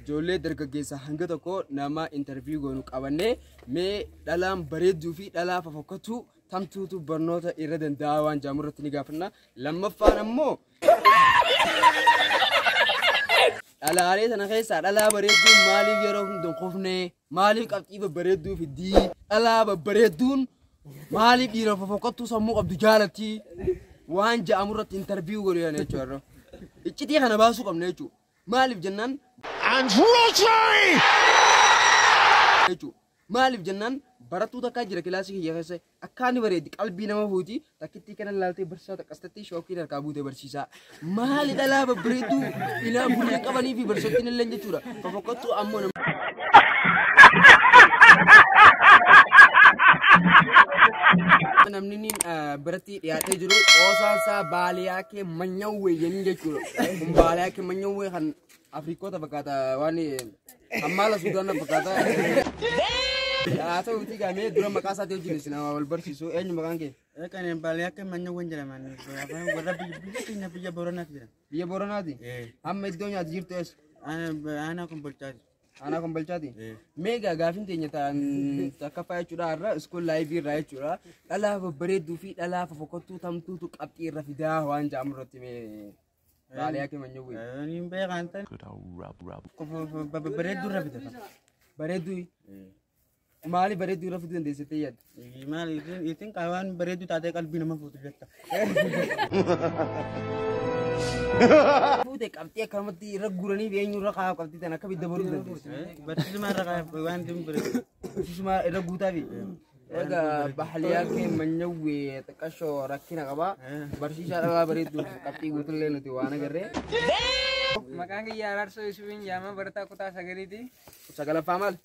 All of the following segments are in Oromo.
Ijoollee dargaggeessaa hanga tokko nama interview goonu qabannee mee dhalaan bareedduu fi dhalaa fafokkatu tamtuutu barnoota irra danda'a waan jaamu irratti ni gaafanna. Lammaffaan ammoo dhalaalee sana keessaa dhalaa bareedduun maaliif yeroo hunda hin kufne maaliif qabxii babbareedduu fiddii dhalaa babbareedduun maaliif dhiira fofokkattuu sammuu qabdu jaalatti waan ja'amu irratti interview godhu jechuudha. Iccitii kana baasuu qabna jechuudha. Maaliif jennaan. And Rodri! jechuudha. Maaliif jennaan barattuu takkaa jira kilaasii kiyya keessa akkaan ni bareeddi qalbii nama fuuti takkittii kana ilaaltee barsiisaa takkastatti shookiin harkaa buutee barsiisaa maali dhalaa babbareedduu ilaa gurrii qabanii fi barsiisottiin illee jechuudha fofokkottuu ammoo nama. namni biratti dhiyaatee jiru qoosaan isaa baaliyaa kee manyawwee jenni jechuudha. Kun baaliyaa kee manyawwee kan Afrikoota fakkaata waan ammaala Suudaana fakkaata. Haa ta'uuti gamee dura maqaa isaatii wajjin isin wal barsiisu eenyu maqaan kee? Kan baaliyaa kee manyawween jedhaman warra biyya keenya biyya Booranaatti jedhama. Biyya Booranaati? Amma iddoo nyaati jirtu eessa? Aanaa kun bulchaati. Aanaa kombalchaati. Meegaa gaafin teenya ta'an takkaffaa jechuudha har'a iskool laayivii irraa jechuudha. Dhalaa babbareedduu fi dhalaa fofokottuu tamtuutu qabxii irra fidaa waan ja'amu irratti mee baaliyaa kee manyawwee. Niin beekaan tan. Babbareedduu irra fida. Bareedduu. Maali bareedduu irra fuduu dandeessu jettee yaadda? Maal isin qaawaan bareedduu taatee qalbii nama fuutu jetta. Fuute qabxii akkanumatti irra guuranii beenyu irra kaa'u qabxii tan akka bidda baruu dandeessu. Barsiisuma irra kaa'u waan isin bareedu. Barsiisuma irra guutaa fi. Erga bahaliyaa kee manyawwee xiqqashoo rakkina qaba. Barsiisaa dhabaa bareedduu qabxii guutullee nuti waan agarree. Maqaan kiyya Araarsoo Yusufiin Jaamaa barataa kutaa sagaliiti. Sagalaffaa maal?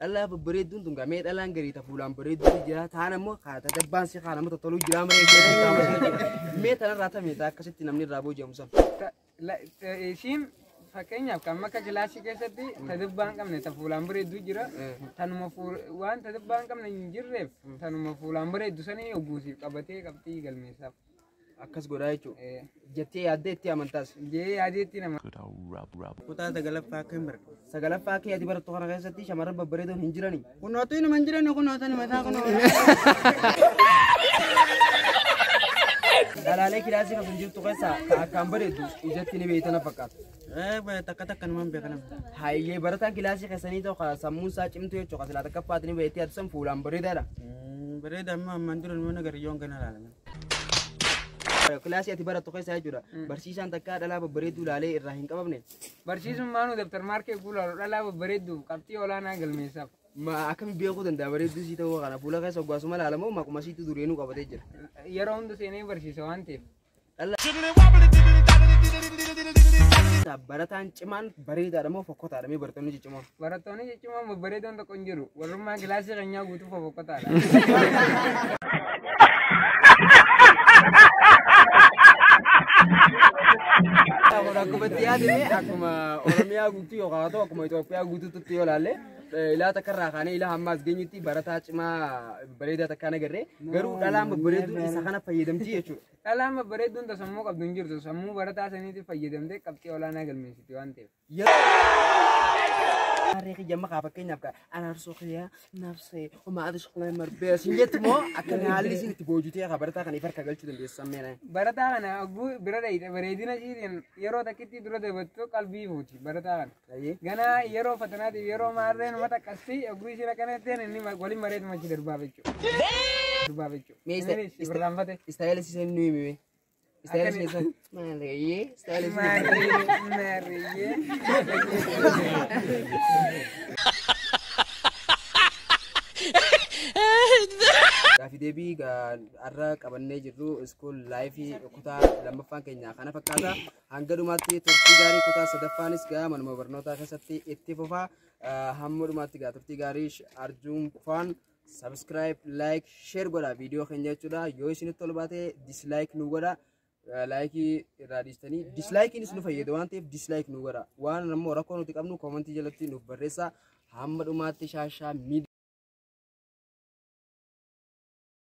Dhalaa babbareedduun tun gamee dhalaan garii ta fuulaan bareedduu ni jira taan ammoo kaa ta dabbaan si kaa namatti toluu jira malee ishee si kaa malee jira. mee tanarraa tamee taa akkasitti namni irraa booji'amu san. Ta- la- ta- Ishiin fakkeenyaaf kan akka kilaasii keessatti ta dabbaa hin qabne ta fuulaan bareedduu jira. Tanuma fuul- waan ta dabbaa hin qabne hin jirreef tanuma fuulaan bareeddu sanii ogguusiif qabatee qabxii galmeessaaf. akkas godhaa jechuudha. Jettee yaaddee itti amantaas. Jee yaadeetti nama. Kutaa sagalaffaa akka hin barre. Sagalaffaa kee ati barattu kana keessatti shamarran babbareedoon hin jirani. Kunootu inuma hin jiran kunoo tani mataa kunoo. Dhalaalee kilaasii kan jirtu keessaa kan akkaan bareeddu ijatti ni beeytana fakkaata. Eh takka takka numan beekana. Hayyee barataan kilaasii keessanii tokko sammuun isaa cimtu jechuudha. Silaa takka faatiin beeytee ati san fuulaan bareedaadha. Bareeda amma ammaan dura numan agarri yoon gana laalame. Kilaasii ati barattu keessaa jechuudha. Barsiisaan takkaa dhalaa babbareedduu ilaalee irraa hin qabamne. Barsiisummaanuu dabtar maarkee guulaaru dhalaa babbareedduuf qabxii olaanaa galmeessaaf. Ma akkami beekuu danda'a bareedduu sii ta'uu kana fuula keessa oggaasuma ilaala moo maquma siitu dureenuu qabatee jira. Yeroo hunda seenee barsiisa waan ta'eef. Barataan cimaan bareedaadha moo fokkotaadha mee barattoonni ciccimoo. Barattoonni ciccimoo babbareedoon tokko hin jiru. Warrummaan kilaasii keenyaa guutuu fofokkataadha. Kun akkuma itti yaadne akkuma Oromiyaa guutuu yookaan haa ta'u akkuma Itoophiyaa guutuutti yoo ilaalle eh, ilaa takka irraa kaanee ilaa hammaas geenyutti barataa cimaa bareedaa takka hin agarre garuu dhalaan babbareedu isa kana fayyadamti jechuudha. Dhalaan babbareedduun ta sammuu qabdu hin jirtu. Sammuu barataa saniitiif fayyadamtee qabxii olaanaa galmeessiti waan ta'eef. Harree kiyya amma kaa fakkeenyaaf kaa araarsoo kiyya nafsee homaa ati shaqalee marbee siin jetti moo akka haalli isin itti boojitee kaa barataa kana ifarka galchuu dandeessu sammeenaa. Barataa kana oguu bira dhayite bareedina ishiitiin yeroo takkitti dura dabattu qalbii fuuti barataa kana. Ayyee. Ganaa yeroo fatanaatiif yeroo maarreen mata qassi oguu ishiin akkana jetteen inni ma- waliin mareetu machi darbaa jechuudha. Darbaa jechuudha. Mee isa- Innis isa- irraanfate. Istaayila isii seenuu himi mee. Gaafi deebii har'a qabannee jirru iskuul laayifii kutaa lammaffaan keenya kana fakkaata. Hanga dhumaatti turtii gaarii kutaa sadaffaanis gaa manuma barnootaa keessatti itti fufa. Hamma dhumaatti gaa turtii gaarii arjuun faan subscribe like share godha video keenya jechuudha yoo isinitti tolu baate dislike nu godha laayikii irraa dhiistanii dislaayikiinis nu fayyada waan ta'eef dislaayik nu godha waan ammoo rakkoo nuti qabnu koomantii jalatti nuuf barreessa hamma dhumaatti shaashaa miidhaa